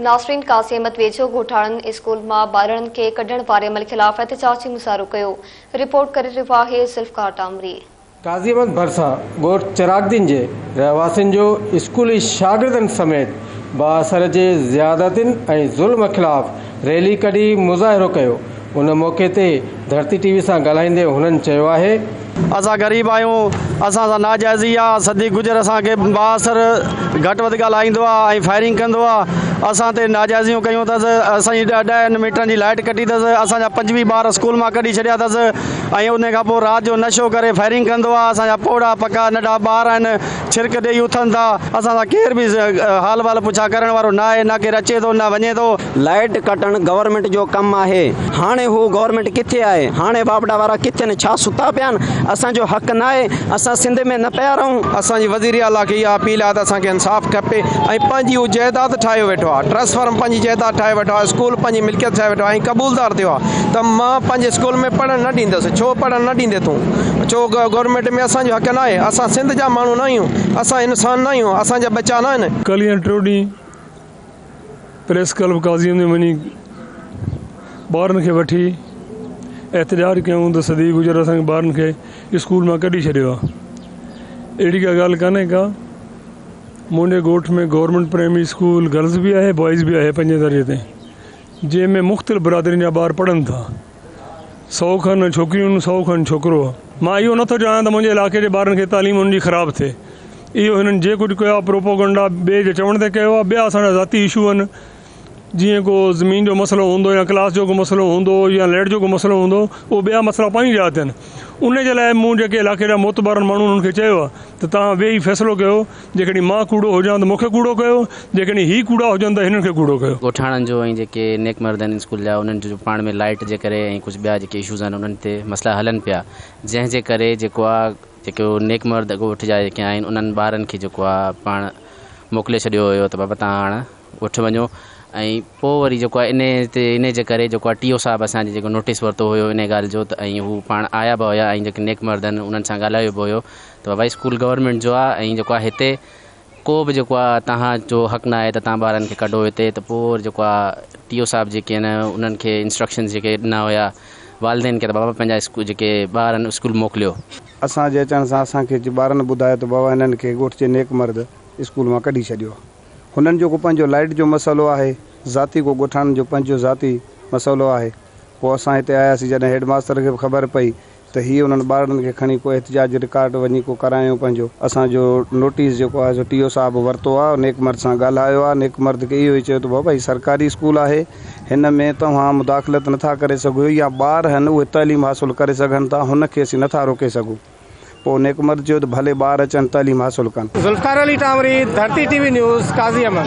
ناصرين قاسيمت ويجهو ڳوٺاڻن اسڪول مان ٻارڙن کي ڪڍڻ واري عمل خلاف احتجاجي مظاهرو ڪيو، رپورٽ ڪري رهيو آهي ذوالفقار ٽامري. قاسيمت ڀرسان ڳوٺ چراگدين جي رهواسين جو اسڪولي شاگردن سميت بااثر جي زيادتين ۽ ظلم خلاف ريلي ڪڍي مظاهرو ڪيو ان موقعي تي ڌرتي ٽي وي سان ڳالهائيندي هنن چيو آهي. اسان غريب آهيون اسان سان ناجائزي آ صديق گجر اسان کي بااثر گهٽ وڌ ڳالهائيندو آ ۽ فائرنگ ڪندو آ اسان تي ناجائزيون ڪيون اٿس اسان جي ڏهن ميٽرن جي لائيٽ ڪٽي اٿس اسان جا پنجويهه ٻار اسڪول مان ڪڍي ڇڏيا اٿس ۽ ان کان پوء رات جو نشو ڪري فائرنگ ڪندو آ اسان جا پوڙها پڪا ننڍا ٻار آهن ڇرڪ ڏيئي اٿن ٿا، اسان سان ڪير به حال وال پڇا ڪرڻ وارو نه آهي، نه ڪير اچي ٿو نه وڃي ٿو. لائيٽ ڪٽڻ گورنمينٽ جو ڪم آهي، هاڻي هو گورنمينٽ ڪٿي آهي، هاڻي واپڊا وارا ڪٿي آهن، ڇا ستا پيا آهن، اسان جو حق نه آهي، اسان سنڌ ۾ نه پيا رهون. اسان جي وزير اعليٰ کي اها اپيل آهي ته اسان کي انصاف کپي ۽ پنهنجي هو جائداد ٺاهيو ويٺو آهي، ٽرانسفارم پنهنجي جائداد ٺاهيو ويٺو آهي، اسڪول پنهنجي ملڪيت ٺاهيو ويٺو آهي ۽ قبولدار ٿيو آهي، ته مان پنهنجي اسڪول ۾ پڙهڻ نه ڏيندس. ڇو پڙهڻ نه ڏيندين تون؟ ڇو گورنمينٽ ۾ اسان جو حق ناهي؟ اسان سنڌ جا ماڻهو ناهيون؟ اسان انسان ناهيون؟ اسان جا ٻچا ناهن؟ ڪلهه يا ٽيون ڏينهن پريس ڪلب قاضيء ۾ وڃي ٻارن کي وٺي احتجاج ڪيائون ته صدي گذري اسان کي ٻارن کي اسڪول مان ڪڍي ڇڏيو آهي. اهڙي ڪا ڳالهه ڪانهي ڪا. منهنجي ڳوٺ ۾ گورنمينٽ پرائمري اسڪول گرلز به آهي بوائز به آهي پنجين درجي تائين. جنهن ۾ مختلف برادرين جا ٻار پڙهن ٿا. سؤ کن ڇوڪريون سؤ کن ڇوڪرو. مان اهو نه ٿو چاهيان ته منهنجي علائقي جي ٻارن کي تعليم انهن جي خراب ٿئي. اهو هنن جي ڪجهه ڪيو آهي پروپوگنڊا ٻئي جي چوڻ تي ڪيو آهي. ٻيا اسان جا ذاتي اشو آهن. جيئن ڪو زمين جو مسئلو هوندو يا ڪلاس جو ڪو مسئلو هوندو يا لئٽ جو ڪو مسئلو هوندو اهو ٻيا مسئلا پنهنجي جاء تي آهن. انهي جي لاء مون جيڪي علائقي جا معتبرن ماڻهن انهن کي چيو آهي ته توهان ويهي فيصلو ڪيو جيڪڏهن مان ڪوڙو هجان ته مون کي ڪوڙو ڪيو، جيڪڏهن هي ڪوڙا هجن ته هنن کي ڪوڙو ڪيو. ڳوٺاڻن جو ۽ جيڪي نيڪ مرد آهن اسڪول جا انهن جو پاڻ ۾ لائيٽ جي ڪري ۽ ڪجهه ٻيا جيڪي اشوز آهن انهن تي مسئلا هلن پيا جنهن جي ڪري جيڪو آ جيڪو نيڪ مرد ڳوٺ جا جيڪي آهن انهن ٻارن کي جيڪو آ پاڻ موڪلي ڇڏيو هيو ته بابا تهان هاڻ وٺ وڃو ۽ پوء وري جيڪو آهي انهي تي انهي جي ڪري جيڪو آهي ٽي او صاحب اسان جي جيڪو نوٽيس ورتو هيو انهي ڳالهه جو ته ۽ هو پاڻ آيا به هيا ۽ جيڪي نيڪ مرد آهن انهن سان ڳالهايو به هيو ته بابا هي اسڪول گورنمينٽ جو آهي ۽ جيڪو آهي هتي ڪو به جيڪو آهي توهان جو حق نه آهي ته توهان ٻارن کي ڪڍو هتي ته پوء وري جيڪو آهي ٽي او صاحب جيڪي آهن انهن کي انسٽرڪشنز جيڪي ڏنا هيا والدين کي ته بابا پنهنجا اسڪول جيڪي ٻار آهن اسڪول موڪليو. اسان جي اچڻ سان اسان کي ٻارن ٻڌايو ته بابا انهن کي ڳوٺ جي نيڪ مرد اسڪول مان ڪڍي ڇڏيو. هنن جو ڪو پنهنجو لائيٽ جو مسئلو آهي ذاتي ڪو ڳوٺاڻن جو پنهنجو ذاتي مسئلو آهي پوء اسان هتي آياسين جڏهن هيڊ ماستر کي به خبر پئي ته هي انهن ٻارڙن کي کڻي ڪو احتجاج رڪارڊ وڃي ڪو ڪرايون پنهنجو اسان جو نوٽيس جيڪو آهي سو ٽي او صاحب ورتو آهي نيڪمرد سان ڳالهايو آهي نيڪمرد کي اهو ئي چيو ته بابا هي سرڪاري اسڪول آهي هن ۾ توهان مداخلت نٿا ڪري سگهيو يا ٻار هن اهي تعليم حاصل ڪري سگهن ٿا هن کي اسين نٿا روڪي سگهون. پوء نيڪ مرد چيو ته ڀلي ٻار اچن تعليم حاصل ڪن. ذوالفقار علي ٽانوري، ڌرتي ٽي وي نيوز، قاضي احمد.